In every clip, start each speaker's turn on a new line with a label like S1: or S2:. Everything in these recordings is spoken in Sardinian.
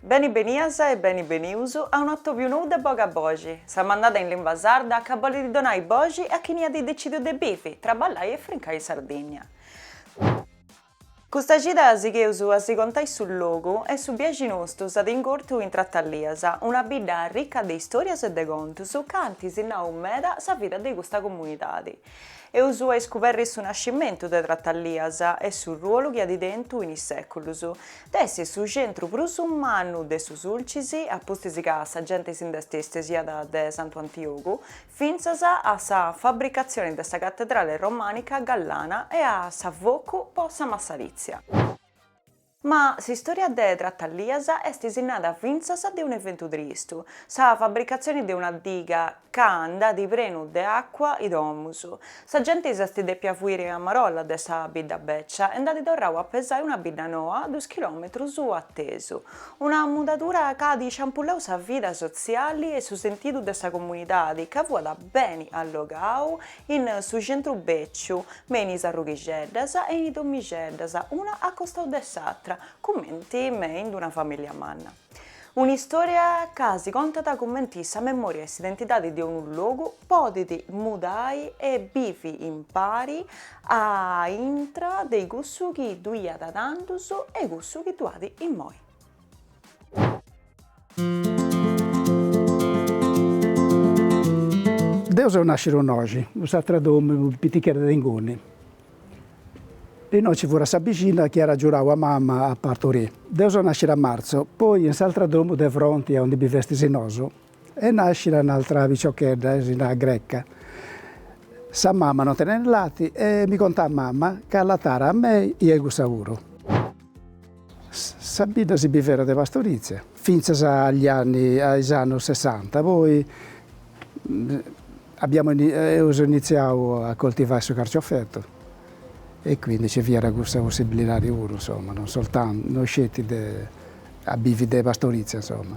S1: Beni benias e beni benius a un'atòbiu nou de Boga Boxi, sa mandada in limba sarda ca bolit donai boxi a chini at decìdiu de bivi, traballai e frincai in Sardìnnia. Custa cida sigheus a si contai su logu e su biaxi nostu s'at ingortu in Tratalias, una bidda arricca de istòrias e de contus ca ant sinnau meda sa vida de custa comunidadi. Eus a iscuberri su nascimentu de Tratalias e su ruolu chi at tentu in is sèculus, de essi su centru prus mannu de su Sulcis, a pustis ca sa genti si nd'est istesiada de Santu Antiogu fintzas a sa fabricatzioni de sa catedrale romànica gallana e a s'afocu po sa massarìtzia. Ma s'istòria de Tratalias est sinnada fintzas de un'eventu tristu, sa fabricatzioni de una diga ca nd'at prenu de àcua is domus. Sa genti s'est dèpia fuiri a marolla de sa bidda bècia e nd'at torrau a pesai una bidda noa duus chilòmetrus a tesu, una mudadura ca at isciampullau sa vida sotziali e su sentidu de sa comunidadi ca fuat beni allogau In su centru beciu me in is arrughixeddas e in is domixeddas, una a costau de s'atra, cumenti me in d'una familia manna. Un'istoria ca si contat cumenti sa memoria e s'identidadi de unu logu podit mudai e bivi impari a intra de cussu chi ddu iat tandus e cussu chi ddu at immoi.
S2: Deu seu nàscira innoxi, in s'atra domu prus pitichedda de inguni. Innoi nci furat sa bixinna chi at agiurau a mama a parturii. Deu seu nàscira a martzu, poi in s'atra domu de fronti a undi bivestis nosu, E nascit un'altra piciochedda e si narat Greca. Sa mama non tenet lati e mi contat mama ca allatàra a mei e a cussa puru. Sa bidda si bivera de pastorizia fintzas agli anni a is annus sessanta poi abbiamo eus iniziau a coltivai su carciofettu e quindi nci fiat cussa possibilidadi puru insomma non soltantu non sceti de a bivi de pastorizia insomma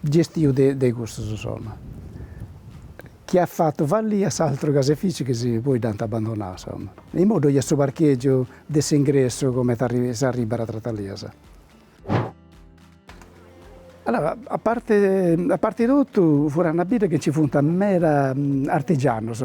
S2: Gestiu de de custus insoma. Chi at fatu fallì a s'altru caseifici chi si poi dd'ant abandonau insoma. Imoi ddoi est su parchègiu de s'ingressu comenti s'arribat a Tratalias. Allora, a parte a parte totu furat una bidda chi nci funt meda artigianus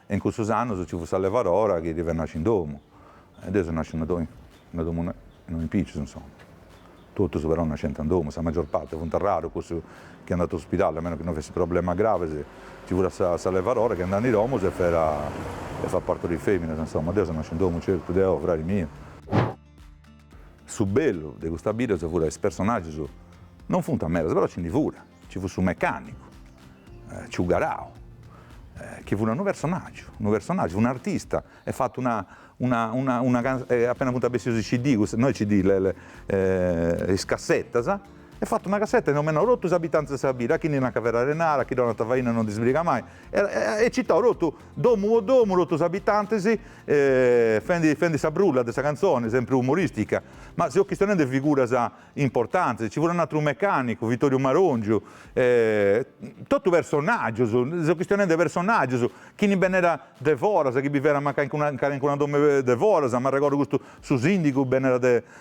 S3: E in cussus annus ci fut sa levarora chi deve nasci in domu. E deu seu nasciu in una domu innoi in pitzus, insoma. Totus però nascent in domu, sa magior parti, funt arrarus cussus chi andant a su spidali, a meno chi no fessit problemas gravis. Ci fut sa sa levarora chi andàt in domus e fera e fat parturì feminas, insoma. Deu seu nasciu in domu, certu, deu, frari miu. Su bellu de custa bidda furant is personaggius non funt medas, però ci ndi furat, ci fut su mecanicu, ciu Garau, chi fut unu personaggiu, unu personaggiu, fut un'artista, est fatu una una una una appena funt bessius is CD, custa, no is CD, le le is cassettas, est fatu una cassetta e nomenau totu is abitantis de sa bidda, a chi ndi nacant Ferrarenara, a chi donant faina non ndi sbrigat mai e e citau totu Domu po domu totus is abitantis fendi fendi sa brulla de sa cantzoni, sempri umoristica, ma seo chistionendi figuras importantis, ci furat un'atru mecanicu, Vittoriu Marongiu, totu personaggius, seo chistionendi personaggius, chini bennerat de foras, chi biverat mancai in calincuna domu de foras, m'arregordu custu su sindigu bennerat de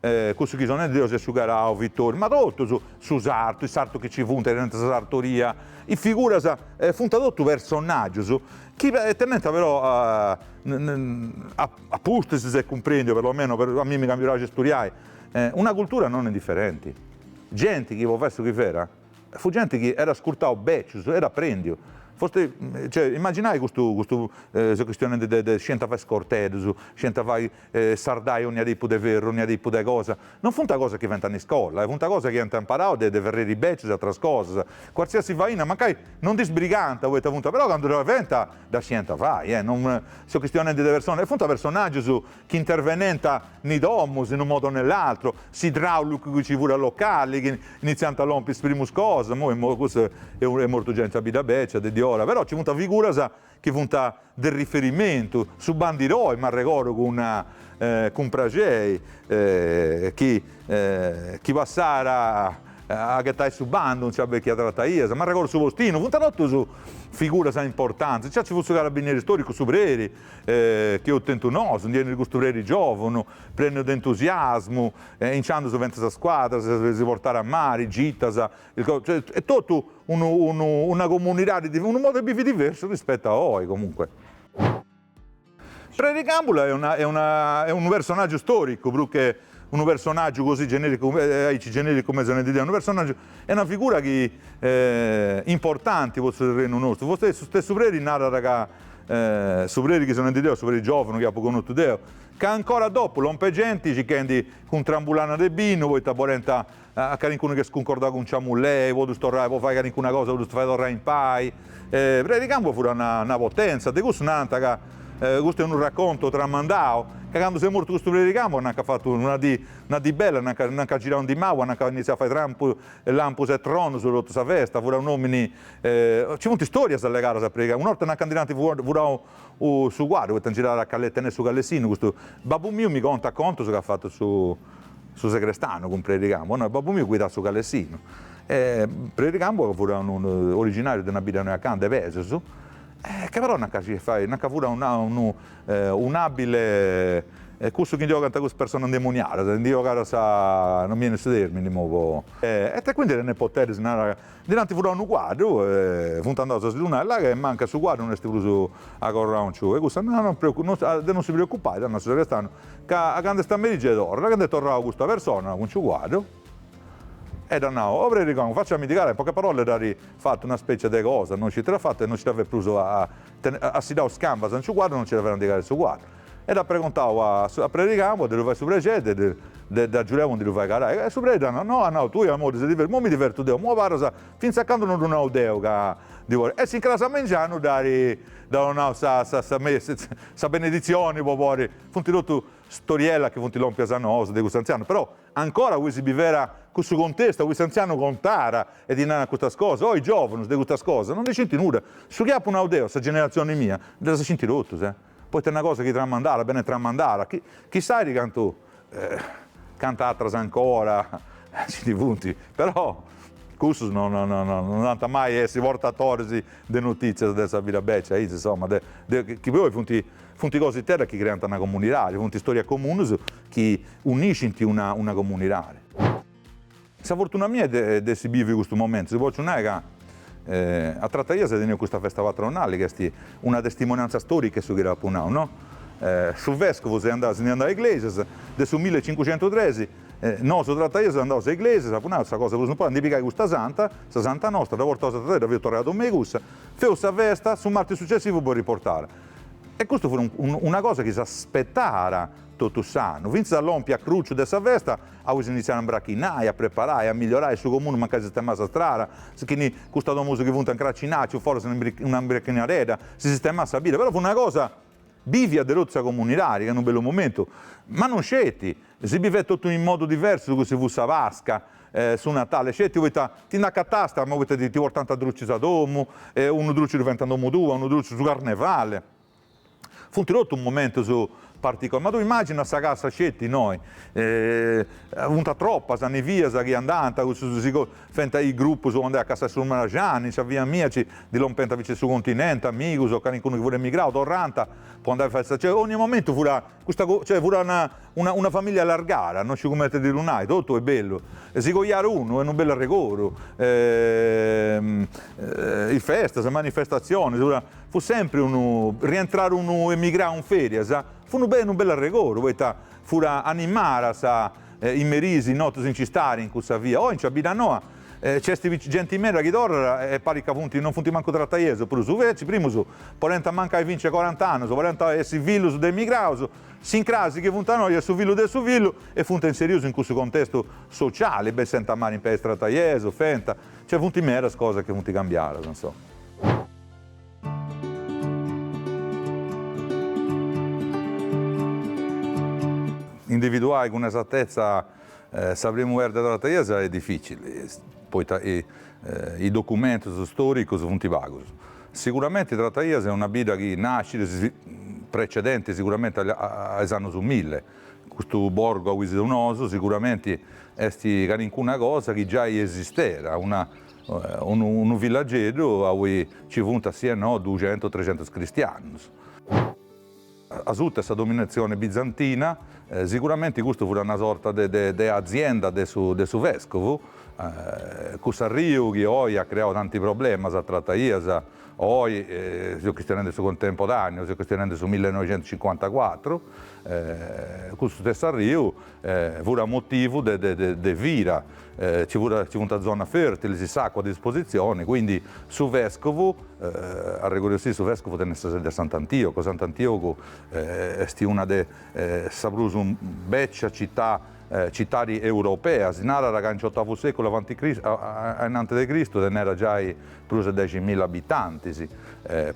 S3: E cussu chi so nendi deu est ciu Garau Vittori, ma totus, su sartu, is sartus chi nci funt tenent sa sartoria, is figuras, funt totus personaggius chi tenent però a pustis s'est cumprendiu, per lo meno a mimmi ca mi praxit studiai, una cultura non indifferenti. Genti chi po fai su chi ferat. Fut genti chi erat ascurtau bècius, erat aprèndiu. Fosti, cioè, imaginai custu, custu, seu chistionendi de, de scient fai is corteddus, scient fai sardai onnia tipu de ferru, onnia tipu de cosa, non funt cosas chi fent in iscola, funt cosas chi ent imparau de, de ferreris bècius e atras cosas. Cualsiasi faina, mancai non ndi sbrigànt poita funt, però candu dda fent dda scient fai, eh, non, seu chistionendi de personas, e funt personàgius chi intervenent in is domus in unu modu o ne l'atru, s'idraùlicu chi ci furat locali, chi initziant a lompi is primus cosas, imoi imoi custu est mortu, genti de bidda bècia de diora, però ci funt figuras chi funt de riferimentu, su bandiroi m'arregordu cun cun praxei chi chi passàt a ghetai su bandu in sa bèchia trataia, m'arregordu su postinu, funt totus figuras importantis, nci ci fut su carabinieri storicu, su preri, E chi eus tentu nosu, ndi enit custu preri giòvunu, prènniu de entusiasmu, e inciandus fent sa squadra, si portarat a mari, gitas, is co. Cioè, est totu unu unu una comunidadi div. Unu modu de bivi diversu rispetu a oi, comunque. Preri Càmbula est una est una est unu personàgiu stòricu, prus che Unu personàgiu così genèricu, aici genèricu cumenti so nendi deu, unu personàgiu e una figura chi importanti po su terrenu nostru, fostei su stessu Preri narat ca su Preri chi so nendi deu, su Preri giòvunu chi apu connotu deu, ca ancora dopu, lompit genti, circhendi cun trambulanas de binu, poita bolent A calincunu chi est scuncordau cun sa mullei, po ddus torrai, po fai calincuna cosa po ddus fai torrai in pai. Predi Càmbula furat una potenza, de cussu nant ca, custu est unu racontu tramandau, ca candu s'est mortu custu Predi Càmbula nant ca at fatu una dì, una dì bella, nant ca nant ca at girau in di mau e nant ca at initziau a fai trampu e lampus e tronus totu sa festa, furat un'omini, ci funt istorias legadas a Predi Càmbula, un'orta nant ca ndi nant fuat furau U su cuaddu poita girat cale tenit su calessinu custu babbu miu mi contat contus ca at fatu su su segrestanu cun Preri Cambu no e babbu miu guidat su calessinu e Preri Cambu fut unu originariu de una bidda innoi acanta 'e Pesus e ca però na ca si fai na ca fut una unu un'abile e cussu chi ndi 'ogant cussu persona ndemoniadas ndi 'ogat sa non mi 'enit su termini imoi po e te quindi tenet poteris nara Ddi nd'anti furau unu cuaddu e funt andaus a si ddu nai, La' ca mancat su cuaddu no est prus a corranciu. E cussa, No, no, de no si preocupai, at nau su sagrestanu, ca a candu est a merì gei torrat. A candu est torrau custa persona cun su cuaddu, e dd'at nau, O preri Ricconi, faciamindi carai, in poche parole dd'at fatu una specia de cosa, no sciu ita dd'at fatu e no nci dda fait prus a, at siddau is cambas in su cuaddu, no nci dda fait a ndi carai 'e su cuaddu. E dd'at pregontau a a Preri Cambu a ddi ddu fai su prexeri de de dd'agiudai a ndi ddu fai carai. E su preri dd'at nau, no, at nau, tui Amori ses divertiu, imoi mi divertu deu, imoi abarras fintzas a candu no ddu nau deu ca ndi boris. E s'incras a mengianu dd'at dd'at nau sa sa sa messa, sa beneditzioni po podi, funt totu storiellas chi funt lompias a nosu de cust'antzianu, però ancora oi si bivera cussu contestu, aui s'antzianu contàt e ti naràt custas cosas, oi giovunus de custas cosas no ndi scint nudda, su chi apu nau deu, sa generatzioni mia, ddas scint totus. poita una cosa chi tramandada benit tramandada, chi chissai cantu cantu atras ancora nci ndi funt, però cussus no no no no no ant mai a essi portatoris de notìtzias de sa vida beccia aici, insoma, de de chi poi funt funt cositeddas chi creant una comunidadi, funt istorias comunis chi uniscint una una comunidadi. Sa fortuna mia est de essi biviu custu momentu, si potzu nai ca a Trataias eus teniu custa festa patronali ca est una testimoniantza storica 'e su chi dd'apu nau, no? Su vescovu s'est andau, si nd'est andau a Iglesias, de su mille e cincucentus tres, nosu Trataias seus andaus a Iglesias, apu nau, sa cosa prus importanti, ndi pigai custa santa, sa santa nostra, dda portaus a Trataias, dda feus torrai a domu 'e cussa, feus sa festa, su martis sucessivu dd'eus riportada. E custu fut una cosa chi s'aspetàt totu s'annu, fintzas a lompi a cruciu de sa festa Aui s'initziàt a mbrachinai, a preparai, a migliorai su comunu mancai si sistemàt sa strada, si chini custas domus chi funt a ncracinai, ciu foras una mbrachinadedda, si sistemàt sa bidda, però fut una cosa bivia de totu sa comunidadi, ca in unu bellu momentu, ma non sceti, si bivèt totu in modu diversu de cussu chi fut sa Pasca, su Natali, sceti poita ti nd'acatàst, ma poita ti ti portànt drucis a domu, unu druci ddu faiant in domu tua, unu druci su Carnevali. Funt totus momentus particularis, ma tui imagina sa cassa sceti innoi, funt tropas sas nivias chi andànt, cussus si fent a is grupus po andai a cassai su maraxani, in sa via mia nci ndi lompent fintzas de su continenti, amigus o calincunu chi fut emigrau, torrànt po andai a fai sa cioè, ogni momentu fut Custa co. Cioè fut una una una familia allargada, no sciu cumenti ti ddu nai, totu est bellu, si coiat unu est unu bellu arregodu, is festas, is manifestatzionis, puru fut sempri unu, rientrada unu emigrau in ferias, fut unu bellu arregodu, poita fut animada sa Is merìs, is notis in s'istadi, in cussa via, oi in sa bidda noa, nc'est genti meda chi torrat e parit ca funt, non funt mancu trataiesus, prus suverci, primus podent mancai fintzas corant'annus, podent essi fillus de emigraus, s'incrasi chi funt innoi e su fillu de su fillu, e funt inserius in cussu contestu sociali, bessent a mari in pei is trataiesus, fenta, nc'est, funt medas cosas chi funt cambiadas, insoma. Individuai cun esatetza sa primu perda de Trataias est dificili, poita is documentus storicus funt pagus. Siguramenti Trataias est una bidda chi nascit precedenti siguramenti a is annus milli, custu borgu aui seus nosu siguramenti est calincuna cosa chi giai esistera, Unu villageddu aui nci funt si e no duxentus trexentus cristianus. Asuta 'e sa dominatzione bizantina, siguramenti custu fut una sorta de azienda de su vescovu. Cuss'arriu chi oi at creau tanti problemas a Trataias, oi seus chistionendi de su contemporaneu, seus chistionendi de su millenoixentucincuantacuatru, custu stessu arriu Fura motivu de vida, ci funt zonas fertilis, s'acua a disposizioni, quindi su vescovu, arregodeussì su vescovu tenit sa sedi a Sant'Antiogu, Sant'Antiogu est una de sa prus becia cità, citadi europea, si narat ca in s'otavu seculu avanti ainanti de Cristu tenera giai prus de deximilla abitantis,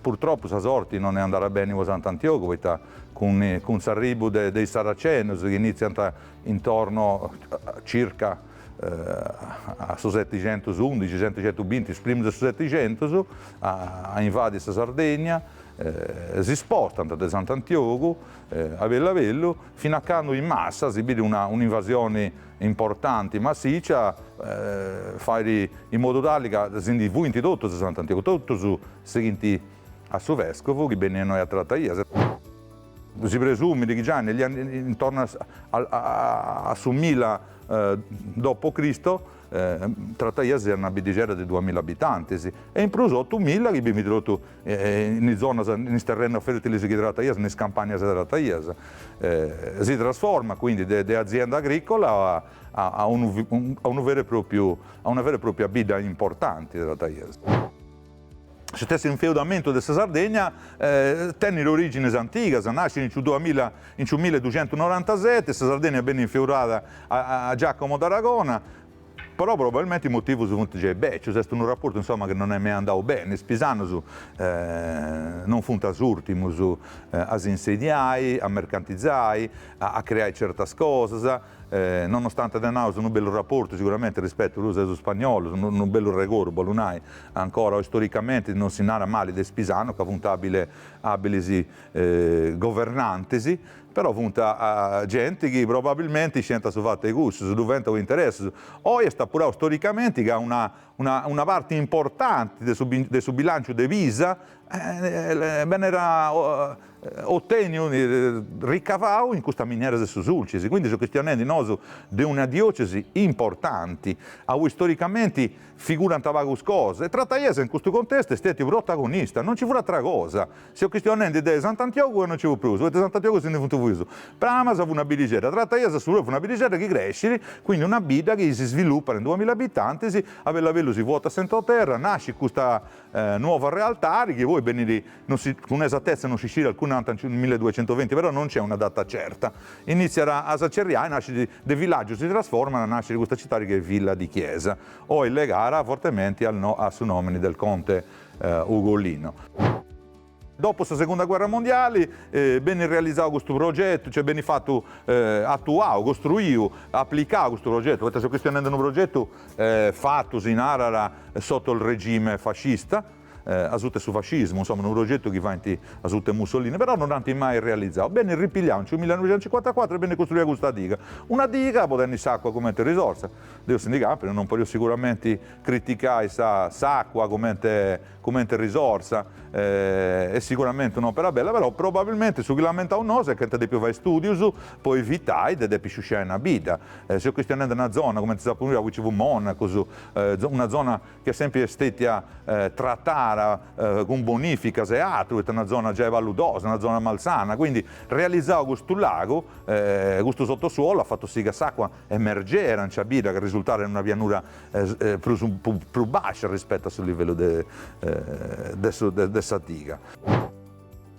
S3: purtroppu sa sorti non est andada beni po Sant'Antiogu poita cun s'arribu de is Saracenus chi initziant intorno circa a su setixentus undixi, setixentus binti, is primus de su setixentus, a invadi sa Sardegna, si spostant de Sant'Antiogu a bellu a bellu, fin'a candu in massa, si bit un'invasioni importanti, massicia, fait in modu tali ca si ndi fuint totus de Sant'Antiogu, totus sighint A su vescovu chi beniat innoi a Trataias. Si presumit chi già nel intorno a su mila dopo Cristo Trataias est una biddixedda de duamilla abitantis e in prus otu milla chi bivint totu in is zonas, in is terrenos fertilis chi Trataias, in is campanias de Trataias. Si trasformat quindi de azienda agricola a unu a una vera e propriu bidda importanti Trataias. Su stessu infeudamentu de sa Sardegna tenit orìgines antigas, nascit in su duamilla, in su mille ducientus norantaseti, sa Sardegna benit infeudada a Giacomo d'Aragona, però probabilmente is motivus funt giai bècius, est unu raportu insoma chi non est mai andau beni, is pisanus non funt s'ùrtimus a si insediai, a mercantizai, a creai certas cosas, Nonostante tenaus unu bellu raportu siguramente rispetu prus de is spagnolus, unu bellu regordu bollu nai, ancora oi storicamente non si narat mali de is pisanus ca funt abile abilis governantis, però funt genti chi probabilmente isciant su fatu de cussus ddu fent po interessus. Oi est apurau storicamente ca una una una parti importanti de su de su bilanciu de Pisa benera oteniu, ricavau in custa miniera de su Sulcis, quindi seus chistionendi nosu de una diocesi importanti, aui storicamenti figurant pagus cosas, e Trataias in custu contestu est stetiu protagonista, non nci fut atera cosa, seus chistionendi de Sant'Antiogu e non nci fut prus, poita Sant'Antiogu si ndi funt fuius, Pramas fut una biddixedda, Trataias puru fut una biddixedda chi crescit, quindi una bidda chi si svilupat in duamilla abitantis, a bellu a bellu si svuotat s'entroterra, nascit custa nuova realtari chi poi benit non si cun esattezza non si scit alcun nant in milleduecentoventi però non nc'est una data certa initziat a s'acerriai nascit de villaggiu si trasformat a nasciri custa citadi chi est Villa di Chiesa oi legara fortementi a su nomini del conte Ugolino. Dopo sa Segunda Guerra Mondiali benit realizau custu progetu, cioè benit fatu, atuau, costruiu, aplicau custu progetu, poita seu chistionendi unu progetu fatu, si narat, sotto il regime fascista, asuta 'e su fascismu, insomma unu progetu chi faint asuta 'e Mussolini, però non dd'ant mai realizau. Benit ripigliau in su millenoixentucincuantacuatru e benit costruia custa diga. Una diga po tenni s'acua cumenti risorsa. Deus si ndi campit, non podio siguramenti criticai sa s'acua cumenti comente risorsa est siguramente un'òpera bella, però probabilmente su chi lamentaus nosu est chi ant dèpiu fai stùdius po evitai de depi sciusciai una bidda. Seu chistionendi una zona comente sa Puglia, aui nci fut monacus, una zona chi est sèmpiri stètia tratada cun bonificas e atru, poita est una zona giai paludosa, una zona malsana, quindi realizau custu lagu, custu sottosuolu at fatu si ca s'acua emergera in sa bidda chi risultat in una pianura prus prus bàscia rispettu a su livellu de de su de sa diga.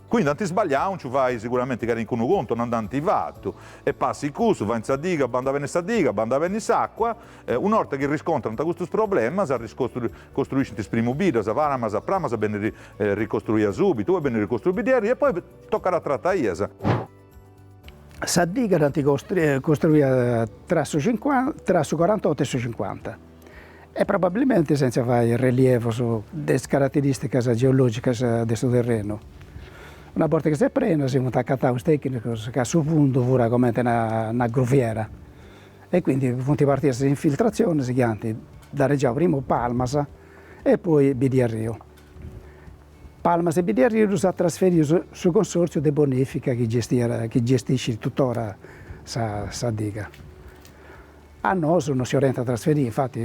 S3: Quindi ant isbagliau in su fai siguramenti calincunu contu, o non dd'ant fatu, e passit cussu, faint sa diga, bandat beni sa diga, bandat beni s'acua, una 'orta chi riscontrant custus problemas, arricostru costruiscint is primu biddas, Palmas, Pramas benit ricostruia subitu, poi benit ricostruia Biddarriu e poi tocat a Trataias.
S2: Sa diga dd'ant costruida tra su corantotto e su cincuanta e probabilmente senza fai relievos de is carateristicas geologicas de su terrenu. Una borta chi s'est prena si funt acataus tecnicos ca su fundu fura comente una gruviera e quindi funt partias is infiltrazionis chi ant danegiau primu Palmas e poi Biddiarriu. Palmas e Biddiarriu ddus at trasferius su consòrtziu de bonèfica chi chi gestiscit tuttora sa sa diga. A nosu no si 'olent a trasferì, infati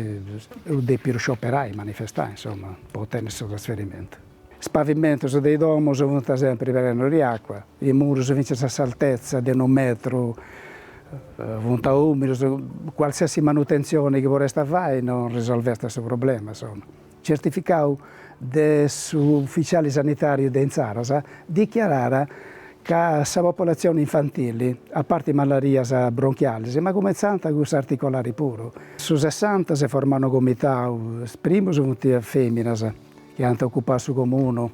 S2: eus dèpidu scioperai, manifestai, insoma, po otènniri su trasferimentu. Is pavimentus de is domus funt sèmpiri prenus de acua, is murus fintzas a s'altetza de unu metru funt ùmidus, cualsiasi manutentzioni chi poresta fai no risolvesta su problema, insoma. certificau de su ufficiali sanitariu de intzaras, dichiarat ca sa popolatzioni infantili, a parti malarias bronchialis, ma cumentzant cussu articolari puru. Su sessanta s'est formau unu comitau, primus funt is feminas chi ant ocupau su comunu,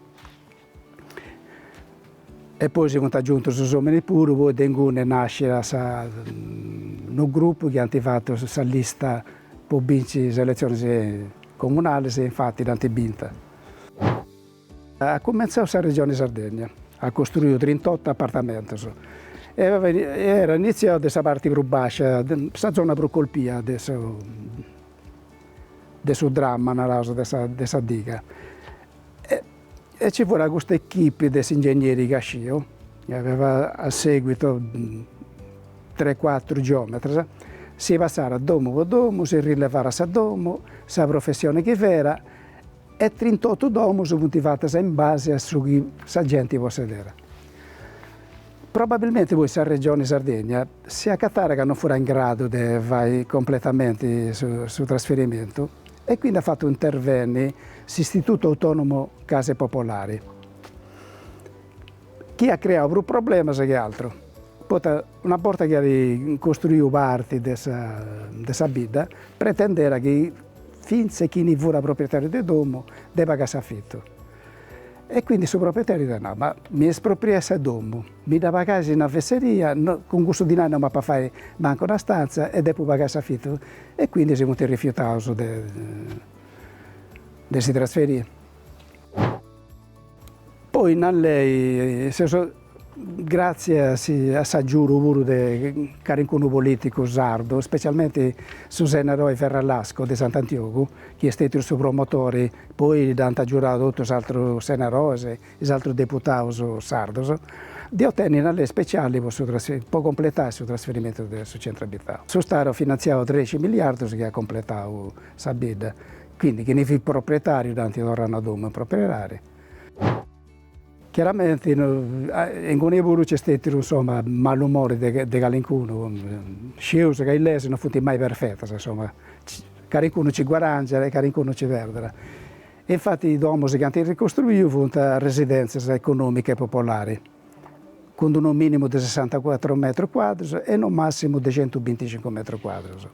S2: E poi si funt agiuntu is ominis puru, poi de inguni est nàsciu unu grupu chi ant fatu sa lista po binci is eletzionis comunalis e infati dd'ant binta. At cumentzau sa Regioni Sardegna, at costruiu trintotto apartamentus e erat initziau de sa parti prus bàscia, sa zona prus colpia de su de su dramma, naraus, de sa de sa diga. E nci fura custa echipi de s'ingegneri Casciu, chi aveva a seguito tre cuatru geometras, si passàt domu po domu, si rilevàt sa domu, sa professioni chi fera e trintottu domus funt fatas in base a su chi sa genti possedera. Probabilmenti poi sa Regioni Sardegna si acatàt ca non fut in gradu de fai completamenti su trasferimentu e quindi at fatu intervenni s'Istitutu Autonomu Case Popolari, chi at creau prus problemas che atru, poita una borta chi at costruiu parti de sa de sa bidda, pretendera chi fintzas chini fut proprietariu de domu depit pagai s'afitu, E quindi su proprietariu dd'at nau, ma mi espropriais sa domu, mi dda pagais una fesseria, cun cussu dinai no m'apu a fai mancu una stanza e depu pagai s'afitu. E quindi si funt rifiutaus de de si trasferiri. Poi sa lei, seus Gràtzias a s'agiudu puru de calincunu polìticu sardu, ispetzialmenti su senadori Ferralasco de Sant'Antiogu, chi est stètiu su promotori, poi dd'ant agiudadu totus is atrus senadoris, is atrus deputaus sardus, de otènniri una lei ispetziali po su po completai su trasferimentu de su centru abitau. Su Stadu at finantziau trexi miliardus chi at completau sa bidda, quindi chini fit proprietariu dd'ant torrau sa domu 'e propriedadi. Chiaramenti inguni puru nc'est stètidu, insoma, malumori de de calincunu, scius ca is leis non funt mai perfetas, insoma, calincunu nci guaràngiat e calincunu nci perdat. E infati is domus chi ant ricostruiu funt residèntzias econòmica e popolari, cun d'unu mìnimu de sessantacuatru metrus cuadrus e unu màssimu de centubinticincu metrus cuadrus.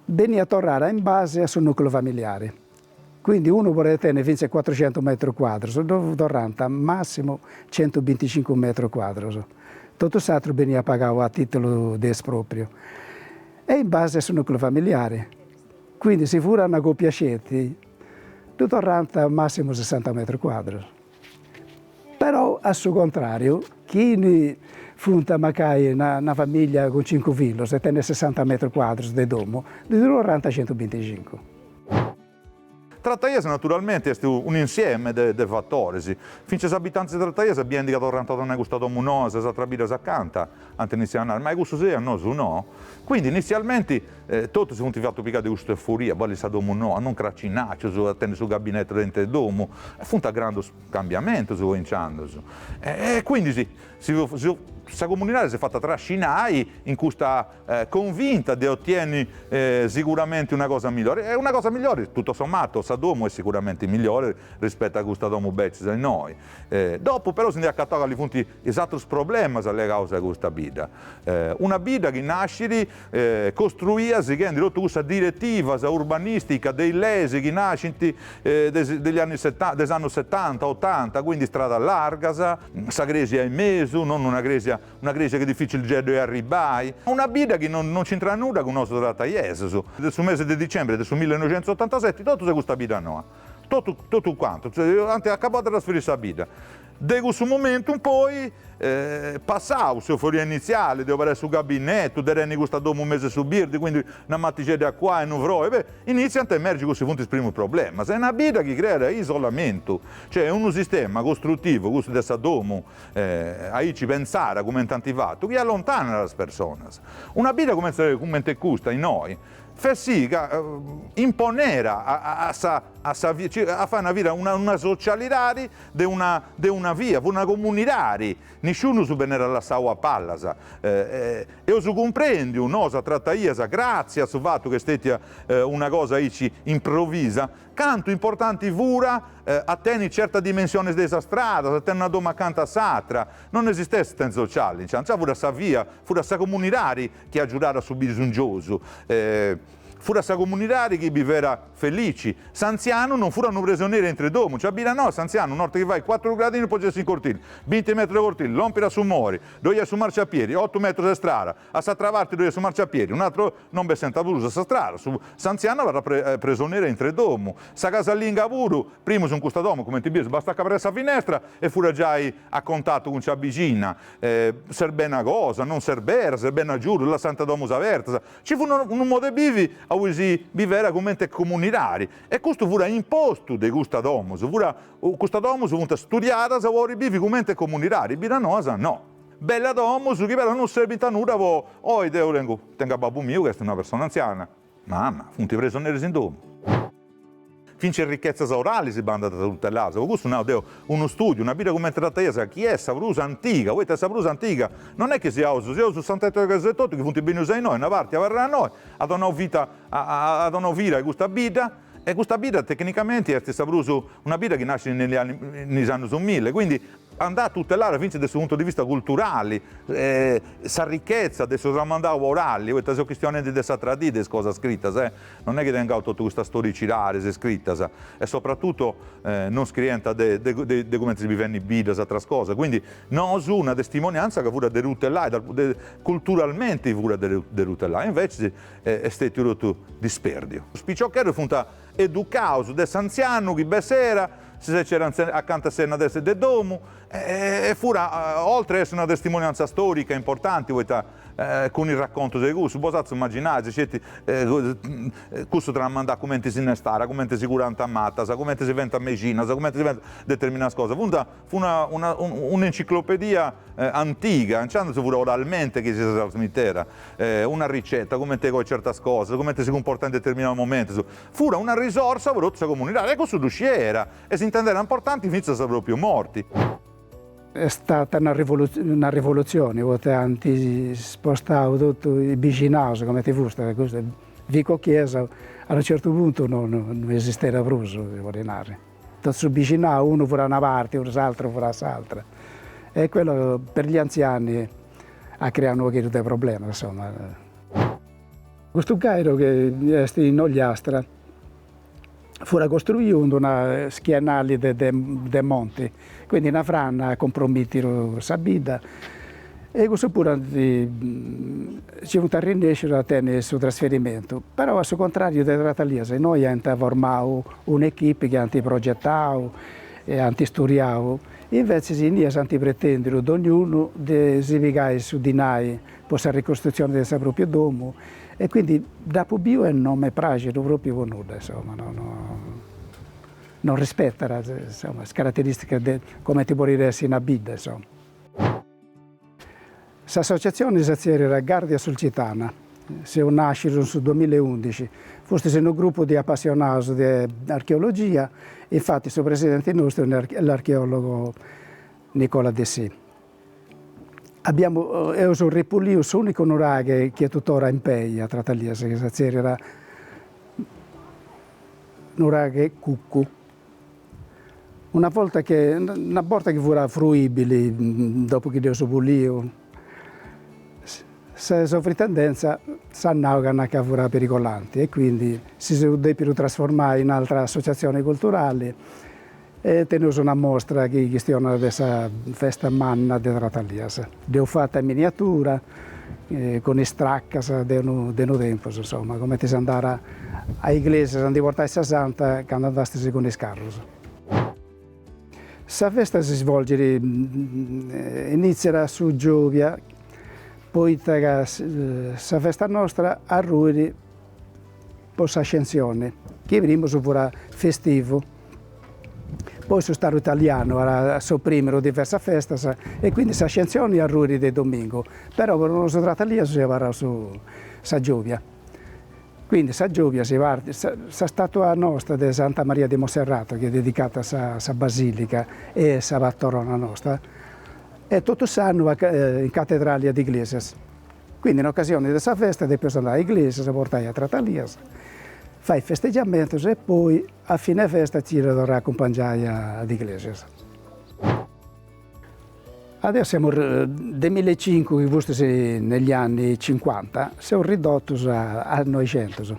S2: Beniat torrada in base a su nucleu familiare, quindi unu podet tenni fintzas cuatrucentus metrus cuadrus, ddo torrant massimu centubinticincu metrus cuadrus, totu s'atru beniat pagau a titulu de espropriu e in base a su nucleu familiare, quindi si furat una copia sceti ddu torrant massimu sessanta metrus cuadrus. Però a su contràriu, chini funt mancai una famìllia cun cincu fillus e tenit sessanta metrus cuadrus de domu, ddi torrant
S3: centubinticincu. Trataias naturalmenti est un'insieme de fatoris, fintzas is abitantis de Trataias biendi ca torrant a donai custa domu noa a is atras biddas acanta, Ant initziau a nai, ma a cussus sì, a nosu no? Quindi initzialmenti totu si funt fatu pigai de custa euforia, bolli sa domu noa, non cracinacius, a tenni su gabinetu dentru 'e domu, funt grandus cambiamentus po inciandus. E quindi si si si sa comunidadi s'est fata trascinai in custa convinta de otenni siguramenti una cosa millori, e una cosa millori, tutto sommato sa domu est siguramenti millori rispettu a custas domus bècias innoi. Dopu però si ndi acatant calis funt is atrus problemas legaus a custa bidda, una bidda chi nascit costruia sighendi totu cussas diretivas urbanisticas de is leis chi nascint degli anni setanta, de is annus setanta, otanta, quindi istradas largas, sa cresia in mesu, no, una cresia chi dificilixeddu est arribai, una bidda chi non non c'intrat nudda cun nosu trataiessus, de su mesi de dicembri de su millenoixentusotantaseti totus a custa bidda noa, totu totu cuantu, ant acabau de trasferiri sa bidda De cussu momentu in poi, passau s'euforia initziali de umperai su gabinetu, de tenni custa domu in mesu 'e su birdi, quindi una matixedda a acuai e unu froi, beh, initziant a emergi cussu chi funt is primus problemas. Est una bidda chi creat isolamentu, cioè est unu sistema costrutivu, custu de sa domu, aici pentzara cumenti ant fatu, chi allontanat is personas. Una bidda cumenti cumenti est custa innoi fait sì ca imponet a sa a sa a fai una vida, una socialidadi de una de una via, fut una comunidadi, nisciunus benera lassau a palas. Eus cumprèndiu, nosu a Tratalias gratzi a su fattu ca est stètia una cosa aici improvisa, cantu importanti fura a teni certas dimensionis de is stradas, a teni una domu acanta a s'atra. Non esistèt assistèntzia sociali, nci fura sa via, fut sa comunidadi chi agiudàt a su bisungiosu, fut sa comunidadi chi bivèt Felici. S'antzianu non furat unu presioneri aintru 'e domu, in sa bidda noa, s'antzianu, un'orta chi fait cuatru gradinus po bessi in cortili, binti metrus de cortili, lòmpiri a su mori, ddoi est su marciapiedi, otu metrus de strada, a s'atra parti ddoi est su marciapiedi, un'atru, non bessenta prus a sa strada, su, s'antzianu abarrat pre, presoneri aintru 'e domu. Sa casalinga puru, primus in custa domu, cumenti bides, bastat ca aberera sa finestra e furat giai a contatu cun sa bixina, e, serbit una cosa, non serbera, serbit un'agiudu, lassanta domus abertas, Ci fut unu modu 'e bivi a ue si bivera comente comunidadi e custu furat impostu de custas domus, furat, custas domus funt studiadas po podi bivi comente comunidadi, biddas noas no. Bellas domus chi però non serbint a nudda po oi, deu tengu tengu a babbu miu chi est una persona anziana, mama, funt presoneris in domu. Fintzes richetzas oralis bandànt tuteladas, pro custu nau deo, unu stùdiu, una bidda cumenti Tratalias chi est sa prus antiga, poita sa prus antiga non est chi siaus siaus su sant'Ettore ca seus etotu chi funt bennius a innoi, una parti abarrada innoi, at donau vita at donau vida a custa bidda, e custa bidda tecnicamenti est sa prus, una bidda chi nascit in in is annus mille, quindi andàt tutelada fintzes de su puntu de vista culturali, sa richezza de su tramandau orali, poita seus chistionendi de sa tradi, de is cosas scritas, Non est chi tengaus totu custas storicidades scritas e sopratutu non scrienta de de cumenti si bivènt in biddas atras cosas, quindi nosu una testimonianza ca furat de tutelai, culturalmenti furat de tutelai e invecis est stètiu totu dispèrdiu. Is piciocheddus funt educaus de s'antzianu chi de sera si secera acanta a s'enna de domu e fura oltre a essi una testimonianza storica importanti poita Cun is racontus de cussu, potzais imaginai, si sceti, cussu tramandat cumenti si nestara, cumenti si curànt matas, cumenti si fènt mexinas, cumenti si fènt determinadas cosas. Fut una un'enciclopedia antiga, inciandus fut oralmenti chi si ddas trasmitera, una riceta, cumenti coi certas cosas, cumenti si cumportai in determinaus momentus. Fut una risorsa po totu sa comunidadi e cussu ddu scièra e s'intendera importanti fintzas a sa pròpriu morti.
S2: Est stata una rivolutzione poita ant spostau totu is bixinaus comenti fustat e custu Vico Chiesa a unu certu puntu non esistera prus si podit nai, totu su bixinau unu furat a una parti e s'aturu furat a s'atra e quello per gli anziani at creau unu pogheddu de problemas insomma. Custu Gairu chi est in Ogliastra furat costruiu in d'una schienali de de monti, quindi una frana at cumpromitiru sa bidda e cussu puru nci funt arrennescius a tenni su trasferimentu, però a su contrariu de Tratalias innoi ant formau un'echipi chi ant progetau e ant isturiau, invetzis innias ant pretendiu dognunu de si pigai su dinai po sa ricostrutzione de sa pròpria domu e quindi dd'apo biu e non m'est pràxidu pròpriu po nudda insomma, non non rispetat insomma is carateristicas de comente podit essi una bidda insomma. S'associatzione si tzèrriat Gàrdia Sulcitana, seus nàscius in su duamilla e undixi, fustis unu grupu de apassionaus de archeologia, infatis su presidenti nostru est l'archeòlogu Nicola Dessì. Abiamu eus repuliu s'unicu nuraghe chi est tuttora in pei a Tratalias chi si tzèrriat nuraghe Cuccu. Una volta che una borta chi furat fruibili dopu chi dd'eus puliu sa sovrintendenza s'at nau ca na ca furat perigolanti e quindi si seus depidu trasformai in altra associazioni culturali Teneus una mostra chi chistionat de sa festa manna de Tratalias. Dd'eus fata in miniatura, cun is tracas de unu tempus, insoma, cumenti s'andàt a Iglesias a ndi portai sa santa candu andastis cun is carrus. Sa festa si svolgit, initziat a su giòbia, poita ca sa festa nostra arruit po s'Ascensioni, chi primus furat festivu. Poi su Staru Italianu at soprìmidu diversas festas e quindi s'ascensioni arruit de domingu, però po nosu trataliesus abarrat su sa giòbia. Quindi sa giòbia si partit, sa sa statua nosta de Santa Maria di Monserrato chi est dedicata a sa sa basilica, est sa patrona nosta, est totu s'annu in catedrali a Iglesias. Quindi in occasioni de sa festa depiaus andai a Iglesias, portai a Tratalias, fai festeggiamentos e poi A fine festa ci dda torrai a acumpangiai a Iglesias. Adesso seus de mille e cincu chi fustis negli anni cinquanta seus ridotus a noixentus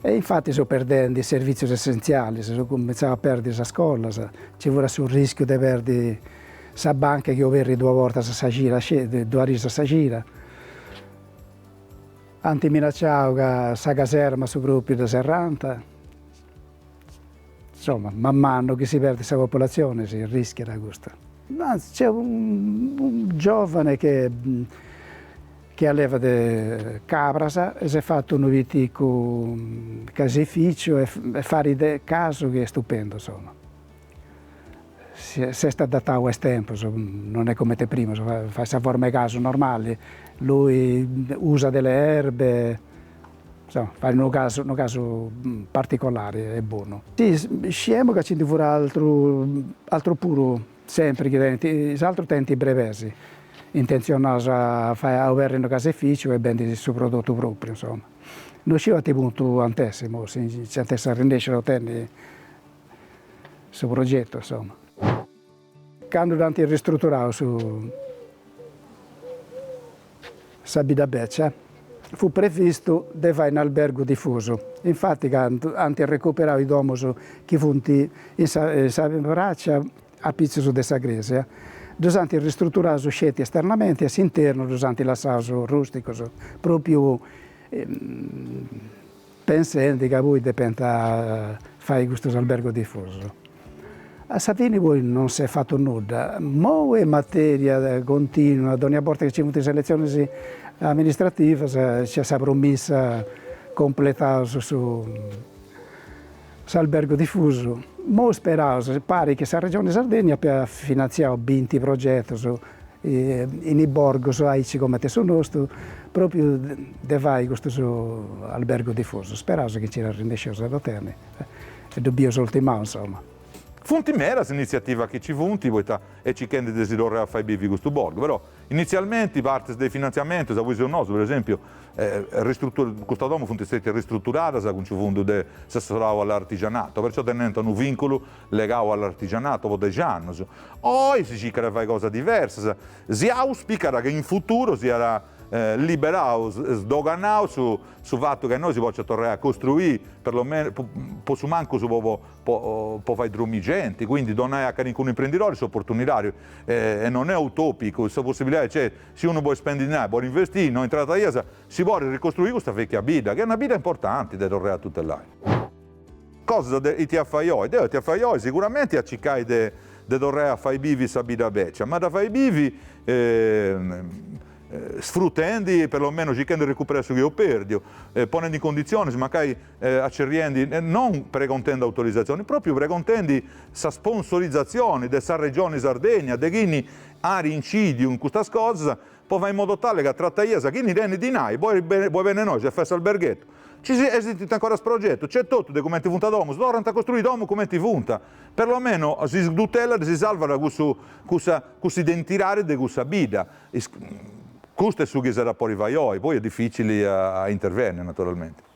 S2: e infati seus perdendi is servitzius essenzialis, seus cumintzau a perdi sas scolas, ci furat su rischiu de perdi sa banca chi oberrit duas bortas a sa cira sceti, duas ris a sa cira. Ant minacciau ca sa caserma su propriu dda serrant. Insoma, man manu chi si perdit sa populazioni si rischiat custu. Nc'est unu giovane chi allevat cabras e s'est fatu unu piticu caseificiu e farit casu chi est stupendu insoma S'est adatau a is tempus, non est cumenti primus, fait sa forma 'e casu normali, lui usa de le erbe, insoma, fait unu casu, unu casu particolari e bonu. Sì, sciemu ca nci ndi fut atru, atrus puru, sempri chi tenint, is atrus tenint is brebes intenzionaus a fai, a oberri unu caseificiu e bendi su prodotu propriu, insoma. Non sciu a ite puntu ant'essi imoi, si nci ant'essi arrennèsciu a otenni su progetu insomma. Candu ant ristruturau su sa bidda beccia fut previstu de fai un'albergu difusu, infati candu ant recuperau is domus chi funt in sa in sa praccia apitzus de sa cresia ddus ant ristruturaus sceti esternamenti e s'internu ddus ant lassaus rusticus, propriu Pensendi ca poi depiant fai custus albergus difusus. A sa fini poi non s'est fatu nudda. Mou est materia continua, dònnia borta chi nci funt is eletzionis amministrativas nc'est sa promissa, completaus su S'albergu difusu, mo isperaus, parit chi sa Regione Sardegna àpiat finantziau binti progetus in is borgus aici comenti su nostu, propriu de fai custus albergus difusus. Isperaus chi nci arrennescius a dd'otenni e ddu bius ultimau insoma. Funt
S3: medas is initziativas chi nci funt, poita e circhendi de si torrai a fai bivi custu borgu, però Initzialmenti partis de is finantziamentus aui seus nosu, per esempiu, custas domus funt stètias ristruturadas cun su fundu de s'assessorau a l'artigianato, perciò tenent unu vìnculu legau a l'artigianato po dexi annus. Oi si circat de fai cosas diversas, si auspicat che in futuru siat liberau, sdoganau su fatu ca innoi si pòciat torrai a costruì, perlomenus, po su mancus po fai dromì genti, quindi donai a calincunu imprendidori s'oportunidadi e non est utòpicu, sa possibilidadi nc'est, si unu bolit spendi dinai, bolit investiri, innoi in Tratalias, si podit ricostruiri custa vèchia bidda, chi est una bidda importanti de torrai a tutelai. Cosas de ita fai oi, de ita fai oi, siguramenti a circai de de torrai a fai bivi sa bidda bèccia, ma a dda fai bivi sfrutendi, perlomenus circhendi de recuperai su chi eus pèrdiu, ponendi in conditzionis mancai acerriendi non pregontendi autorizatzioni, pròpiu pregontendi sa sponsorizatzioni de sa Regioni Sardegna, de chini ari incìdiu in custas cosas, po fai in modo tale ca trataias a chini tenit dinai, poi poi bene nois est fessa alberghettu, ci si esistint ancora is progetus, nc'est totu de cumenti funt domus, torrant a costruiri domus cumenti funt, perlomeno si tutellat, si salvat cussu cussa cuss'identidadi de cussa bidda, custu est su chi s'at a podi fai oi, poi est dificili a intervenni naturalmenti.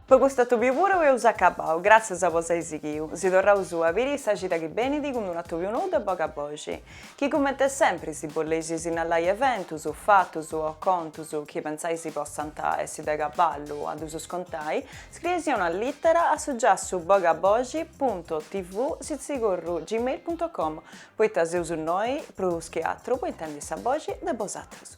S1: Po cust'atòbiu puru eus acabau, gràtzias a nos ai sighiu, si torraus a biri in sa cida chi benit cun d'unu atòbiu nou de boga boxi, chi cumenti sempri si boleis sinnalai eventus, fatus o contus chi pentzais possant essi de cabali a ddusus contai, scriei-sì una lìtera a su giassu bogaboxi punto tv sitzigorru gmail punto com, poita seus innoi prus chi atru po intendi sa boxi de bosatrus.